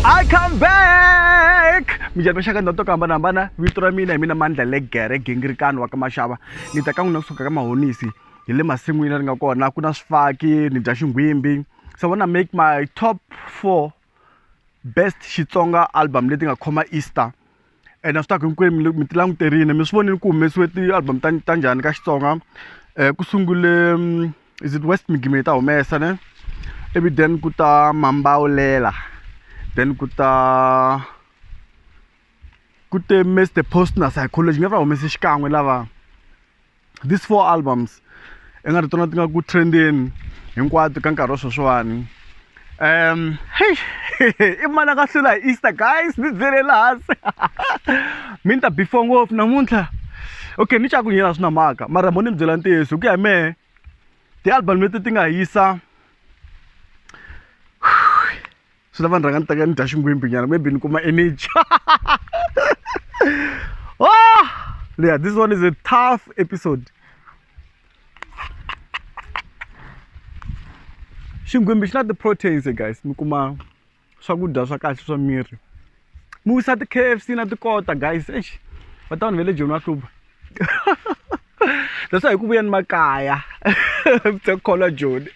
I come back mi jari maxaka ndhawu to ku hambanahambana vito ra mina hi mina mandla le gere gingirikani wa ka maxava ni ta ka n'wina kusuka ka mahonisi hi le masin'wini ri nga kona ku na swifaki ni dya xinghwimbi so wanna make my top four best xitsonga album leti nga khoma easter ene swi ta ku hinkwenu mi ti languterile mi swi vonile ku humesiwe ti-album ta ta njhani ka xitsonga um ku sungule mm, is it west migimini ta humesa ne ivi then ku ta mambawulela then ku ta ku te mr post na psychology nge va humese xikan'we lava these four albums i nga ri tona ti nga ku trendeni hinkwato ka nkarhi wa sweswiwani um hey i mani a nga hlula hi easter guys ni byele lahansi mi ni ta before ngopfu namuntlha okay ni caku nyela swi na mhaka mara mo ni mi byela ntiyiso hi ku ya hi mehe ti-album leti ti nga hisa swi lava ni rhanga ni teka ni dya xingwimbhinyana maybe ni kuma energy oh! yeah this one is a tough episode xingwimbhi xi na ti-proteins guys mi kuma swakudya swa kahle swa miri mi wisa ti-k f c na tikota guys ex va ta vanhu va le joni va hluva leswa hi ku vuyeni makaya vutekholwa joni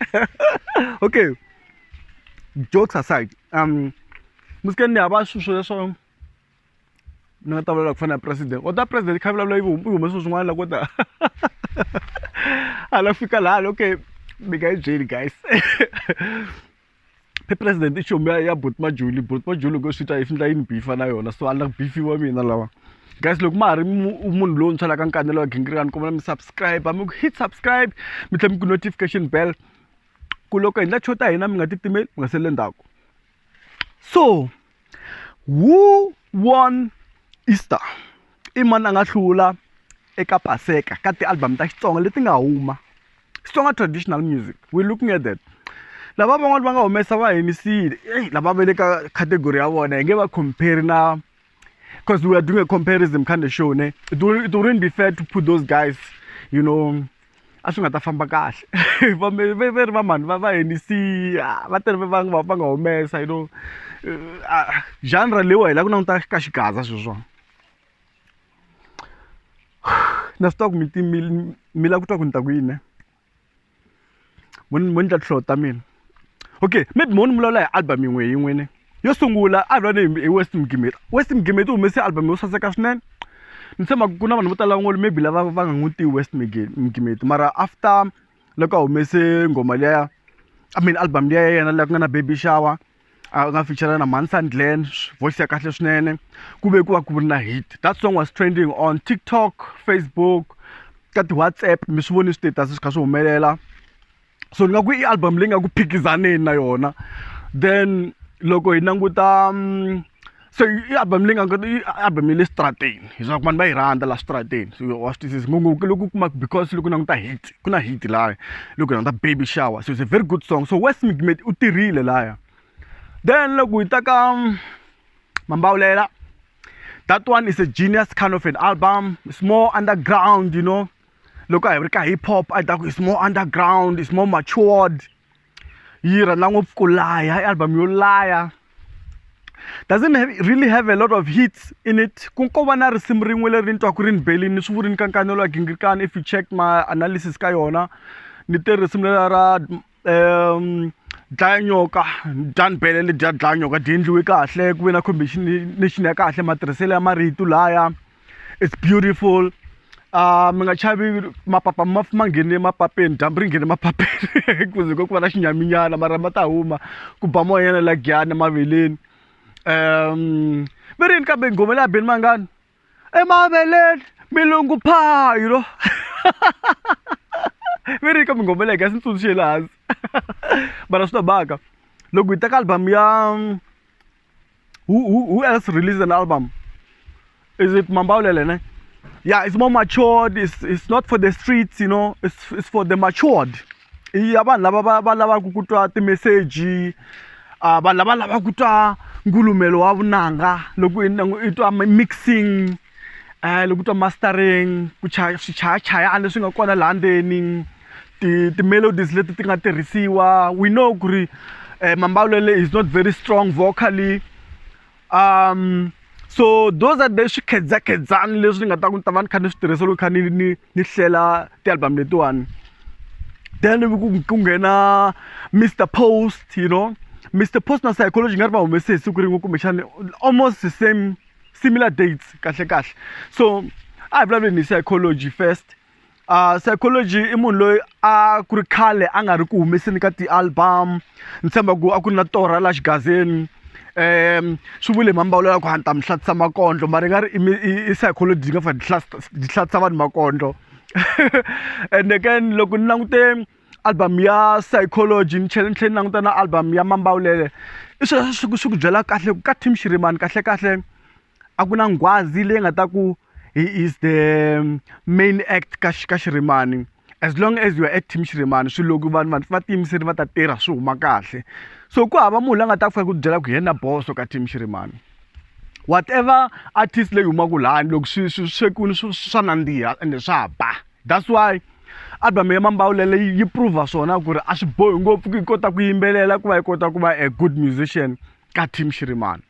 okay jokes aside um musikeni ni hava swilo swo leswo ni nga ta vulavula ku fana na president o ta president kha vulavula yi humese swilo swin'wana la ko ta a la fika laha ni okay mi nga yi byeli guys phe president i chomi ya ya bot majuli bot majuli loko swi ta yi findla yi ni bifa na yona so a ni la ku bifiwa mina lawa guys loko ma ha ri munhu lontshwa la ka nkanelo wa gingirikani kombela mi subscribe mi ku hit subscribe mi tlhela mi ku notification bell ku loko hi endla cho ta hina mi nga titimeli mi nga saleli ndzhaku so who won Easter i mani a nga hlula eka paseka ka ti-album ta xitsonga leti nga huma xitsonga traditional music we looking at that lava van'wani va nga humesa va henisile eyi lava va le ka category ya vona hi nge va compare na because we are doing a comparison kind of show ne it, will, it wouldn't be fair to put those guys you know a swi nga ta famba kahle va ri va mhani va va henisiya ah, va tele va nga va nga humesa you know eh, ah, genre leyiwa hi la ku languta ka xigaza sweswona na swi twa ku mi mi la ku twa ku ni ta ku yini mo ni- mo ni tla tihlolo ta mina okay maybe mo ni vulavula hi album yin'we hi yin'we ne yo sungula a vula ni hi west mgimeti west mgimeti u humese album yo saseka swinene ni tshemba ku na vanhu vo tala van'wana maybe lava va nga n'wi tivi west Mige- mgimeti mara after loko a humese nghoma liya i mean album liya ya yena leyi ku nga na baby shower a nga feature na Mansan Glen voice ya kahle swinene ku ve ku va ku ri na hit that song was trending on TikTok Facebook ka ti-WhatsApp mi swi voni status swi kha swi humelela so ni nga ku i album leyi nga ku phikizaneni na yona then loko hi languta mm, se i album leyi nga i album ya le xitarateni leswaku vanhu va yi rhandza laha switarateni so wa swi twisisa ngopfungopfu loko u kuma because loko u languta hit ku na hit laya loko hi languta baby shower so it's a very good song so west mcmate u tirhile laya then loko hi ta ka mm, mambawulela that one is a genius kind of an album it's more underground you know loko a hi ri ka hip hop a hi ta ku it's more underground it's more matured yi rhandza ngopfu ku laya i album yo laya doesn't have, really have a lot of hits in it ku ko va na risimu rin'we leri ni twaku ri ni belini ni swi vuri ni kankanelo ya gingirikani if you check my analysis ka yona ni te risimu lela ra um dlaya nyoka dya ni bele le dya dlaya nyoka dyi endliwe kahle ku ve na combination ya kahle matirhiselo ya marito laya it's beautiful uh mi nga chavi mapapa ma ma nghene mapapeni dyambu ri nghene mapapeni kuze ko ku va na xinyaminyana mara ma ta huma ku ba moya yana la giyana maveleni um mi rini kambe nghoma leya beni mangani emaveleni milungu phaa you know mi rini kambe nghoma leya gasi ni tsundzuxe le hansi mara swi ta baka loko hi teka album ya Who, who, who else released an album? Is it Mambaulele? Ne? Yeah, it's more matured. It's, it's not for the streets, you know. It's, it's for the matured. Iya vanhu lava va va lava ku kutwa timeseji uh, vanhu lava lava kutwa ngulumelo wa vunanga loko i twa mixing um loko ku twa mastering ku chaya swichayachayana leswi nga kona laha ndzeni ti ti-melodies leti ti nga tirhisiwa we know ku ri um mambalelo is not very strong vocally um so those are the swikhedzakhedzani leswi ni nga ta ku ni ta va ni kha ni swi tirhisa loko kha ni ni ni hlela ti-album letiwani then ku nghena mr post you know mr post na psychology nga ri va humese hi siku rin'we kumbexana almost the same similar dates kahle kahle so a hi vulavuleni hi psychology first uh, psychology i munhu loyi a ku ri khale a nga ri ku humeseni ka ti-album ni tshemba ku a ku ri na torha la xigazeni um swi vule mambawulo ya ku hanta mi hlatisa makondlo mara i nga ri i psychology yi nga fa di hlatisa vanhu makondlo and again loko ni langute album ya psychology ni tlhela ni tlhela ni languta na album ya mambawulele i swilo leswi swi ku swi ku byela kahle ku ka team xirimani kahle kahle a ku na nghwazi leyi nga ta ku he is the main act ka ka xirimani as long as you are at team xirimani swilo loko vanhu vanhu va tiyimiseri va ta tirha swi huma kahle so ku hava munhu la nga ta ku fika ku byela ku yena boso ka team xirimani whatever artist leyi humaka lani loko swi swi swekuni swa nandziha ende swa ba. that's why album ya mambawulele yi prova swona ku ri a swi bohi ngopfu ku yi kota ku yimbelela ku va yi kota ku va a good musician ka team xirimani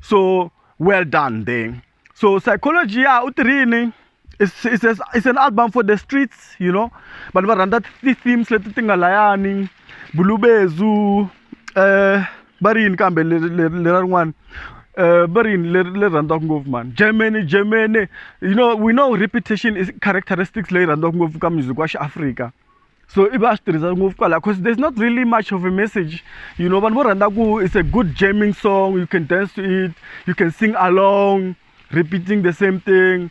so well done there so psychology ya u tirhini it's, it's, a, it's an album for the streets you know vanhu va rhandza ti-themes leti ti nga layani bulubezu um uh, eh, va ri yini kambe lera rin'wana Eh, va ri leri leri rhandziwaka ngopfu mani germany germany you know we know repetition is characteristics leyi rhandziwaka ngopfu ka music wa xiafrika so i va a swi tirhisa ngopfu kwalaho because there's not really much of a message you know vanhu vo rhandza ku it's a good jamming song you can dance to it you can sing along repeating the same thing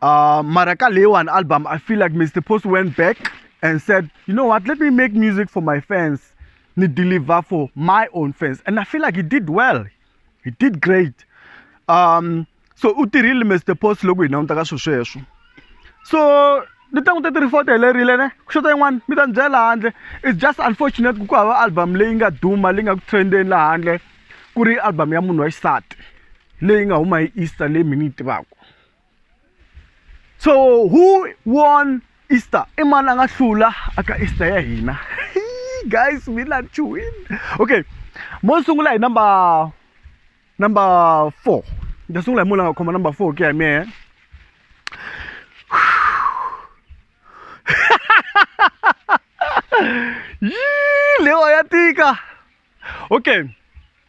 Uh, Maraka Lewan album, I feel like Mr. Post went back and said, you know what, let me make music for my fans, me deliver for my own fans. And I feel like he did well. He did great. Um, so u tirhile Mr. Post loko hina n'wi ta ka swilo sweswo. So ni ta n'wi ta tiri foto helerile ne ku xota yin'wana mi ta ni byela handle it's just unfortunate ku ku hava album leyi nga duma leyi nga ku trendeni laha handle ku ri album ya munhu wa xisati leyi nga huma hi easter leyi mi ni yi tivaka so who won easter i mani a nga hlula aka easter ya hina guys we love to win okay mo sungula hi number number four ni ta sungula hi munhu a nga khoma number four ku ya hi mehe lewa ya tika okay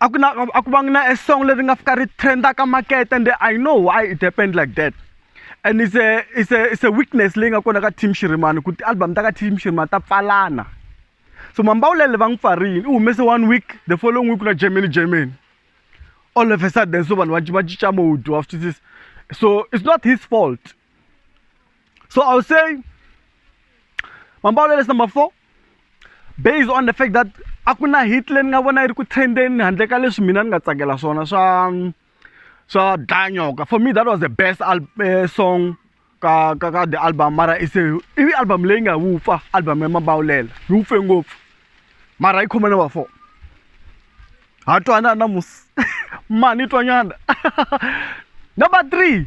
a ku na a ku vangi na a song leri nga fika ri trendaka makete and i know why it happened like that and it's a it's a it's a weakness leyi nga kona ka team xirimani ku ti-album ta ka team xirimani ta pfalana so mambawulele va n'wi pfarile u humese one week the following week na germany germany all of a sudden so vanhu va cinca mode wa swi twisisa so it's not his fault so i would say mambawulele is number four based on the fact that a ku na hit leyi ni nga vona yi ri ku trendeni handle ka leswi mina ni nga tsakela swona swa swa dlanyoka for me that was the best eh, song ka ka ka the album mara i se ivi album leyi nga wupfa album ya mabawulela yi wupfe ngopfu mara yi khome na va four ha twana na musi mani twanyana number three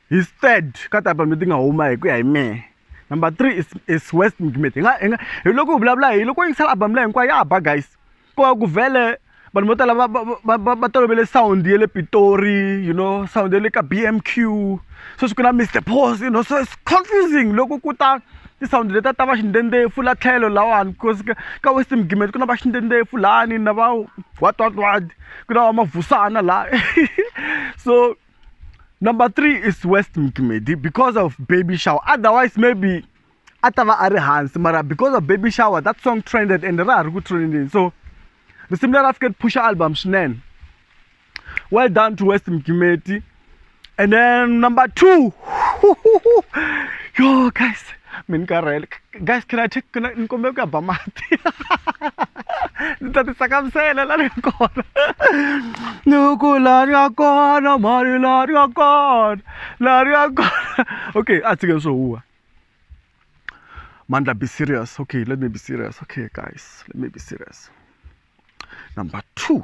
His third ka ta pambe ti nga huma hi ku ya hi mehe number three is, is west mcmit hi nga hi nga hi loko hi vulavula hi loko yingisela album leyi hinkwayo ya ba guys ko va ku vhele vanhu vo tala va tolovele sound ya le pitori you know sound ya le ka b m q sweswi ku na mr pos you know so it's confusing loko ku ta ti-sound leta ta va xindendefo la tlhelo lawani because ka west mgimet ku na va xindendefo lani na va watwatwadi ku na va mavusana laha so number three is west mcmedi because of baby shower otherwise maybe a ta va a ri hansi mara because of baby shower that song trended and ra ha ri ku trendeni so risimu leri a fike ri phusha album swinene well done to west mcmedi and then number two yo guys mi ni karhele guys can I take can I ni kombela ku ya ba mati ni ta ti tsakamisela la ni nga kona ni ku la ni nga kona mali la ni nga kona la ni nga kona okay a tshikeni swo huwa mandla be serious okay let me be serious okay guys let me be serious number two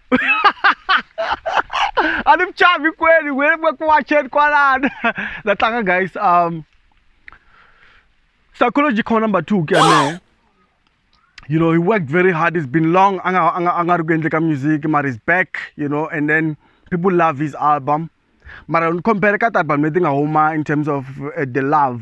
a ni mchavi kweli wena mweke wacheni kwalana natlanga guys um psychology corner number two ke ane you know he worked very hard it's been long a nga a nga a nga ri ku endle ka music mara is back you know and then people love his album mara ni compare ka ti-album leti nga huma in terms of uh, the love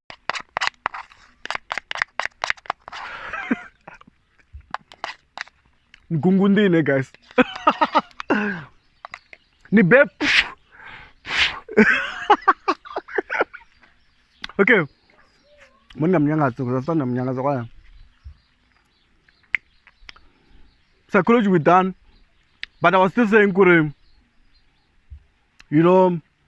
mgungundii ne guys ni be okay monna mnyangatso because after mnyangatso kwaya psychology we done but i was still saying kuri you know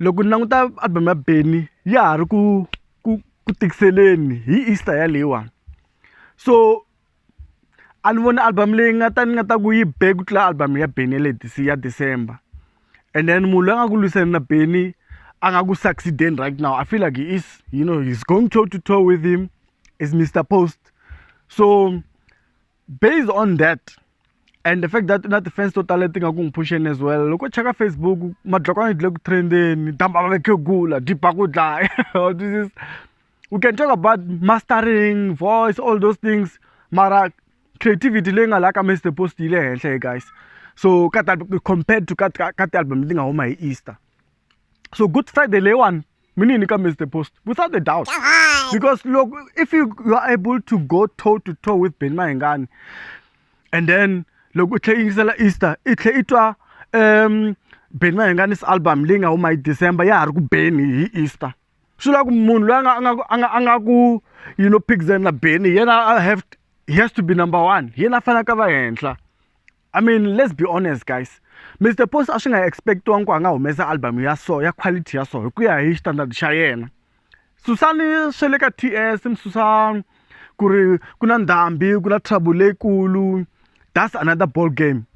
Loko ni languta album ya Benny ya ha ri ku ku ku tikiseleni hi Easter yaleyiwani. So a ni voni album leyi nga ta ni nga ta ku yi be ku tlula album ya Benny ya le ya December. And then munhu loyi a nga ku lwisana na Benny a nga ku succeed-eni right now, I feel like he is you know he is going toe to toe with him is Mister Post. So. based on that and the fact that na ti-fans to tala ti nga ku n'wi phuxeni as well loko cheka facebook madlokwana dle ku trendeni dambava vekhegula diba ku dlaya this is we can talk about mastering voice all those things mara creativity leyi nga laha ka mr post yi le henhla guys so ka compared to ka ka ti-album leti nga huma hi easter so good friday leyiwani mini ni ka miss the post without a doubt because look if you, you are able to go toe to toe with ben mahingani and then loko u tlhe yingisela easter i tlhe i twa um ben mahingani's album leyi nga huma hi december ya ha ri ku beni hi easter swi lava ku munhu loyi a nga a nga a nga ku you know pixen na beni hi yena have he has to be number one hi yena a faneleke a va henhla I mean let's be honest guys Mr Post a swi nga expectiwanga ku a nga humesa album ya so ya quality ya so hi ku ya hi standard xa yena susani swe le ka TS msusa ku ri ku na ndhambi ku na trouble leyikulu that's another ball game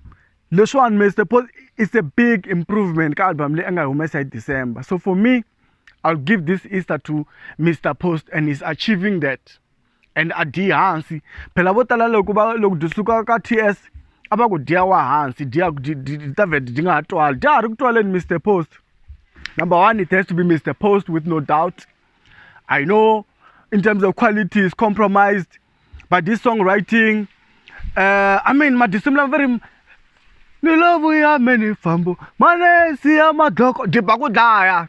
leswiwani Mr Post is a big improvement ka album leyi a nga humesa hi December so for me I'll give this Easter to Mr Post and he's achieving that and a dyi hansi phela vo tala loko va loko byi suka ka ts a va ku dya wa hansi dya ta vhete byi nga ha twali dya ha ri ku twaleni mr post number one it has to be mr post with no doubt i know in terms of quality is compromised but this song writing uh, i mean madisimu lama va ri ni lovu ya me ni fambo manesi ya madloko dyi ba ku dlaya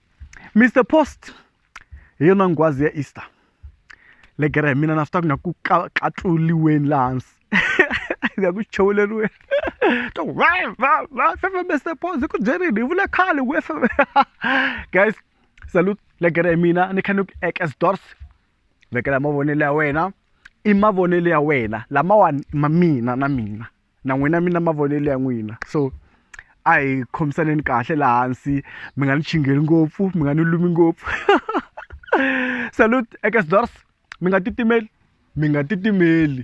Mister Post hi yona nghwazi ya Easter legere hi mina na swi tiva ku na ku ka katluriweni laha hansi ni ya ku chuveleriweni to va va va famba Mister Post hi ku byerini hi vule khale ku FM guys salute legere hi mina ni kha ni ku ekes doors vekela mavonelo ya wena i mavonelo ya wena lamawani ma mina na mina. na n'wina mi na mavonelo ya n'wina so a hi khomisaneni kahle laha hansi mi nga ni chingeli ngopfu mi nga ni lumi ngopfu salute eka sdors mi nga titimeli mi nga titimeli